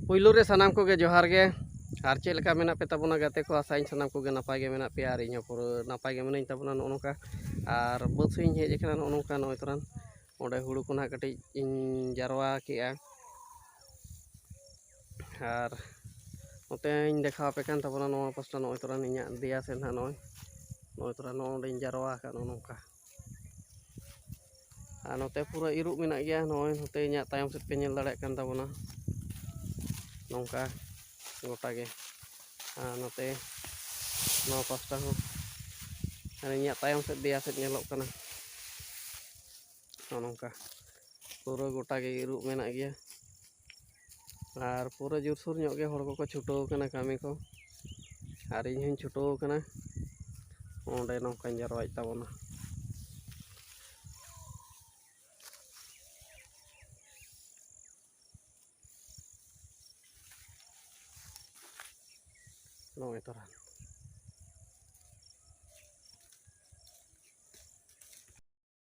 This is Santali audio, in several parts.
ᱯᱩᱭᱞᱩ ᱨᱮ ᱥᱟᱱᱟᱢ ᱠᱚᱜᱮ ᱡᱚᱦᱟᱨ ᱜᱮ ᱟᱨ ᱪᱮᱫ ᱞᱮᱠᱟ ᱢᱮᱱᱟᱜ ᱯᱮ ᱛᱟᱵᱚᱱᱟ ᱜᱟᱛᱮ ᱠᱚ ᱟᱥᱟᱭᱟᱹᱧ ᱥᱟᱱᱟᱢ ᱠᱚᱜᱮ ᱱᱟᱯᱟᱭ ᱜᱮ ᱢᱮᱱᱟᱜ ᱯᱮᱭᱟ ᱟᱨ ᱤᱧᱦᱚᱸ ᱯᱩᱨᱟᱹ ᱱᱟᱯᱟᱭ ᱜᱮ ᱢᱤᱱᱟᱹᱧ ᱛᱟᱵᱚᱱᱟ ᱱᱚᱜᱼᱚ ᱱᱚᱝᱠᱟ ᱟᱨ ᱵᱟᱹᱫᱽ ᱥᱮᱫ ᱤᱧ ᱦᱮᱡ ᱟᱠᱟᱱᱟ ᱱᱚᱜᱼᱚ ᱱᱚᱝᱠᱟ ᱱᱚᱜᱼᱚᱭ ᱛᱚᱨᱟᱱ ᱚᱸᱰᱮ ᱦᱩᱲᱩ ᱠᱚ ᱱᱟᱦᱟᱜ ᱠᱟᱹᱴᱤᱡ ᱤᱧ ᱡᱟᱨᱣᱟ ᱠᱮᱜᱼᱟ ᱟᱨ ᱱᱚᱛᱮᱧ ᱫᱮᱠᱷᱟᱣ ᱟᱯᱮ ᱠᱟᱱ ᱛᱟᱵᱚᱱᱟ ᱱᱚᱣᱟ ᱯᱟᱥᱴᱟ ᱱᱚᱜᱼᱚᱭ ᱛᱚᱨᱟᱱ ᱤᱧᱟᱹᱜ ᱫᱮᱭᱟ ᱥᱮᱫ ᱱᱟᱦᱟᱜ ᱱᱚᱜᱼᱚᱭ ᱱᱚᱜᱼᱚᱭ ᱛᱚᱨᱟ ᱱᱚᱜᱼᱚ ᱱᱚᱸᱰᱮᱧ ᱡᱟᱨᱣᱟ ᱟᱠᱟᱫ ᱱᱚᱜᱼᱚ ᱱᱚᱝᱠᱟ ᱟᱨ ᱱᱚᱛᱮ ᱯᱩᱨᱟᱹ ᱤᱨᱚᱜ ᱢᱮᱱᱟᱜ ᱜᱮᱭᱟ ᱱᱚᱜᱼᱚᱭ ᱱᱚᱛᱮ ᱤᱧᱟᱹᱜ ᱛᱟᱭᱚᱢ ᱥᱮᱫ ᱯᱮ ᱧᱮᱞ ᱫᱟᱲᱮᱭᱟᱜ ᱠᱟᱱ ᱛᱟᱵᱚᱱᱟ ᱱᱚᱝᱠᱟ ᱜᱚᱴᱟ ᱜᱮ ᱟᱨ ᱱᱚᱛᱮ ᱱᱚᱣᱟ ᱯᱟᱥᱴᱟ ᱦᱚᱸ ᱟᱨ ᱤᱧᱟᱹᱜ ᱛᱟᱭᱚᱢ ᱥᱮᱫ ᱫᱮᱭᱟ ᱥᱮᱫ ᱧᱮᱞᱚᱜ ᱠᱟᱱᱟ ᱱᱚᱜᱼᱚ ᱱᱚᱝᱠᱟ ᱯᱩᱨᱟᱹ ᱜᱚᱴᱟ ᱜᱮ ᱤᱨᱚᱜ ᱢᱮᱱᱟᱜ ᱜᱮᱭᱟ ᱟᱨ ᱯᱩᱨᱟᱹ ᱡᱳᱨᱥᱳᱨ ᱧᱚᱜ ᱜᱮ ᱦᱚᱲ ᱠᱚᱠᱚ ᱪᱷᱩᱴᱟᱹᱣ ᱠᱟᱱᱟ ᱠᱟᱹᱢᱤ ᱠᱚ ᱟᱨ ᱤᱧ ᱦᱚᱸᱧ ᱪᱷᱩᱴᱟᱹᱣ ᱠᱟᱱᱟ ᱚᱸᱰᱮ ᱱᱚᱝᱠᱟᱧ ᱡᱟᱨᱣᱟᱭᱮᱫ ᱛᱟᱵᱚᱱᱟ ᱱᱚᱜᱼᱚᱭ ᱛᱚᱨᱟ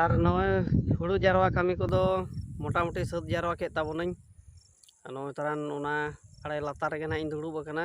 ᱟᱨ ᱱᱚᱜᱼᱚᱭ ᱦᱩᱲᱩ ᱡᱟᱨᱣᱟ ᱠᱟᱹᱢᱤ ᱠᱚᱫᱚ ᱢᱚᱴᱟᱢᱩᱴᱤ ᱥᱟᱹᱛ ᱡᱟᱨᱣᱟ ᱠᱮᱫ ᱛᱟᱵᱚᱱᱟᱹᱧ ᱟᱨ ᱱᱚᱜᱼᱚᱭ ᱛᱟᱨᱟᱱ ᱚᱱᱟ ᱟᱲᱮ ᱞᱟᱛᱟᱨ ᱨᱮᱜᱮ ᱱᱟᱜ ᱤᱧ ᱫᱩᱲᱩᱵ ᱟᱠᱟᱱᱟ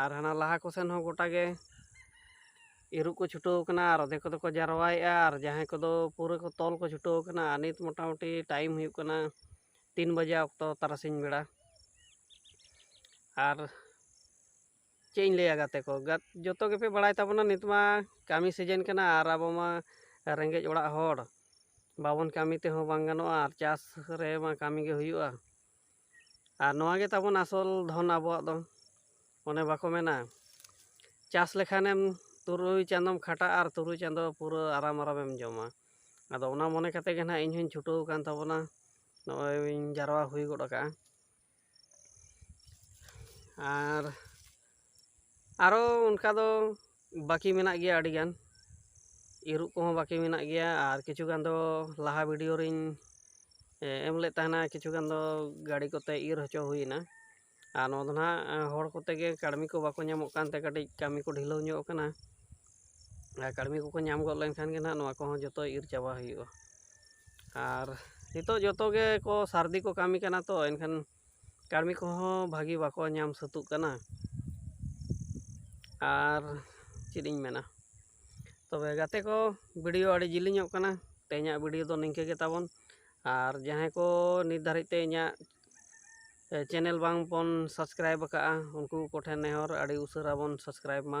ᱟᱨ ᱦᱟᱱᱟ ᱞᱟᱦᱟ ᱠᱚ ᱥᱮᱱ ᱦᱚᱸ ᱜᱚᱴᱟ ᱜᱮ ᱤᱨᱚᱜ ᱠᱚ ᱪᱷᱩᱴᱟᱹᱣ ᱠᱟᱱᱟ ᱟᱨ ᱟᱫᱷᱮ ᱠᱚᱫᱚ ᱠᱚ ᱡᱟᱨᱣᱟᱭᱮᱜᱼᱟ ᱟᱨ ᱡᱟᱦᱟᱸᱭ ᱠᱚᱫᱚ ᱯᱩᱨᱟᱹ ᱠᱚ ᱛᱚᱞ ᱠᱚ ᱪᱷᱩᱴᱟᱹᱣ ᱠᱟᱱᱟ ᱟᱨ ᱱᱤᱛ ᱢᱚᱴᱟᱢᱩᱴᱤ ᱴᱟᱭᱤᱢ ᱦᱩᱭᱩᱜ ᱠᱟᱱᱟ ᱛᱤᱱ ᱵᱟᱡᱮ ᱚᱠᱛᱚ ᱛᱟᱨᱟᱥᱤᱧ ᱵᱮᱲᱟ ᱟᱨ ᱪᱮᱫ ᱤᱧ ᱞᱟᱹᱭᱟ ᱜᱟᱛᱮ ᱠᱚ ᱡᱚᱛᱚ ᱜᱮᱯᱮ ᱵᱟᱲᱟᱭ ᱛᱟᱵᱚᱱᱟ ᱱᱤᱛ ᱢᱟ ᱠᱟᱹᱢᱤ ᱥᱤᱡᱮᱱ ᱠᱟᱱᱟ ᱟᱨ ᱟᱵᱚ ᱢᱟ ᱨᱮᱸᱜᱮᱡ ᱚᱲᱟᱜ ᱦᱚᱲ ᱵᱟᱵᱚᱱ ᱠᱟᱹᱢᱤ ᱛᱮᱦᱚᱸ ᱵᱟᱝ ᱜᱟᱱᱚᱜᱼᱟ ᱟᱨ ᱪᱟᱥ ᱨᱮᱢᱟ ᱠᱟᱹᱢᱤ ᱜᱮ ᱦᱩᱭᱩᱜᱼᱟ ᱟᱨ ᱱᱚᱣᱟ ᱜᱮ ᱛᱟᱵᱚᱱ ᱟᱥᱚᱞ ᱫᱷᱚᱱ ᱟᱵᱚᱣᱟᱜ ᱫᱚ ᱚᱱᱮ ᱵᱟᱠᱚ ᱢᱮᱱᱟ ᱪᱟᱥ ᱞᱮᱠᱷᱟᱱᱮᱢ ᱛᱩᱨᱩᱭ ᱪᱟᱸᱫᱚᱢ ᱠᱷᱟᱴᱟᱜᱼᱟ ᱟᱨ ᱛᱩᱨᱩᱭ ᱪᱟᱸᱫᱚ ᱯᱩᱨᱟᱹ ᱟᱨᱟᱢ ᱟᱨᱟᱢᱮᱢ ᱡᱚᱢᱟ ᱟᱫᱚ ᱚᱱᱟ ᱢᱚᱱᱮ ᱠᱟᱛᱮ ᱜᱮ ᱱᱟᱦᱟᱜ ᱤᱧ ᱦᱚᱧ ᱪᱷᱩᱴᱟᱹᱣ ᱟᱠᱟᱱ ᱛᱟᱵᱚᱱᱟ ᱱᱚᱜᱼᱚᱭ ᱤᱧ ᱡᱟᱨᱣᱟ ᱦᱩᱭ ᱜᱚᱫ ᱟᱠᱟᱫᱼᱟ ᱟᱨ ᱟᱨᱚ ᱚᱱᱠᱟ ᱫᱚ ᱵᱟᱹᱠᱤ ᱢᱮᱱᱟᱜ ᱜᱮᱭᱟ ᱟᱹᱰᱤ ᱜᱟᱱ ᱤᱨᱚᱜ ᱠᱚᱦᱚᱸ ᱵᱟᱹᱠᱤ ᱢᱮᱱᱟᱜ ᱜᱮᱭᱟ ᱟᱨ ᱠᱤᱪᱷᱩ ᱜᱟᱱ ᱫᱚ ᱞᱟᱦᱟ ᱵᱷᱤᱰᱤᱭᱳ ᱨᱤᱧ ᱮᱢ ᱞᱮᱫ ᱛᱟᱦᱮᱱᱟ ᱠᱤᱪᱷᱩ ᱜᱟᱱ ᱫᱚ ᱜᱟᱹᱰᱤ ᱠᱚᱛᱮ ᱤᱨ ᱦᱚᱪᱚ ᱦᱩᱭᱱᱟ ᱟᱨ ᱱᱚᱣᱟ ᱫᱚ ᱱᱟᱦᱟᱜ ᱦᱚᱲ ᱠᱚᱛᱮ ᱜᱮ ᱠᱟᱹᱲᱢᱤ ᱠᱚ ᱵᱟᱠᱚ ᱧᱟᱢᱚᱜ ᱠᱟᱱᱛᱮ ᱠᱟᱹᱴᱤᱡ ᱠᱟᱹᱢᱤ ᱠᱚ ᱰᱷᱤᱞᱟᱹᱣ ᱧᱚᱜ ᱠᱟᱱᱟ ᱟᱨ ᱠᱟᱹᱲᱢᱤ ᱠᱚᱠᱚ ᱧᱟᱢ ᱜᱚᱫ ᱞᱮᱱᱠᱷᱟᱱ ᱜᱮ ᱱᱟᱦᱟᱜ ᱱᱚᱣᱟ ᱠᱚᱦᱚᱸ ᱡᱚᱛᱚ ᱤᱨ ᱪᱟᱵᱟ ᱦᱩᱭᱩᱜᱼᱟ ᱟᱨ ᱱᱤᱛᱚᱜ ᱡᱚᱛᱚ ᱜᱮᱠᱚ ᱥᱟᱹᱨᱫᱤ ᱠᱚ ᱠᱟᱹᱢᱤ ᱠᱟᱱᱟ ᱛᱚ ᱮᱱᱠᱷᱟᱱ ᱠᱟᱹᱲᱢᱤ ᱠᱚᱦᱚᱸ ᱵᱷᱟᱹᱜᱤ ᱵᱟᱠᱚ ᱧᱟᱢ ᱥᱟᱹᱛᱚᱜ ᱠᱟᱱᱟ ᱟᱨ ᱪᱮᱫ ᱤᱧ ᱢᱮᱱᱟ ᱛᱚᱵᱮ ᱜᱟᱛᱮ ᱠᱚ ᱵᱷᱤᱰᱤᱭᱳ ᱟᱹᱰᱤ ᱡᱤᱞᱤᱧᱚᱜ ᱠᱟᱱᱟ ᱛᱮᱦᱮᱧᱟᱜ ᱵᱷᱤᱰᱤᱭᱳ ᱫᱚ ᱱᱤᱝᱠᱟᱹ ᱜᱮ ᱛᱟᱵᱚᱱ ᱟᱨ ᱡᱟᱦᱟᱸᱭ ᱠᱚ ᱱᱤᱛ ᱫᱷᱟᱹᱨᱤᱡ ᱛᱮ ᱤᱧᱟᱹᱜ ᱪᱮᱱᱮᱞ ᱵᱟᱝ ᱵᱚᱱ ᱥᱟᱵᱥᱠᱨᱟᱭᱤᱵᱽ ᱟᱠᱟᱫᱼᱟ ᱩᱱᱠᱩ ᱠᱚᱴᱷᱮᱱ ᱱᱮᱦᱚᱨ ᱟᱹᱰᱤ ᱩᱥᱟᱹᱨᱟ ᱵᱚᱱ ᱥᱟᱵᱥᱠᱨᱟᱭᱤᱵᱽ ᱢᱟ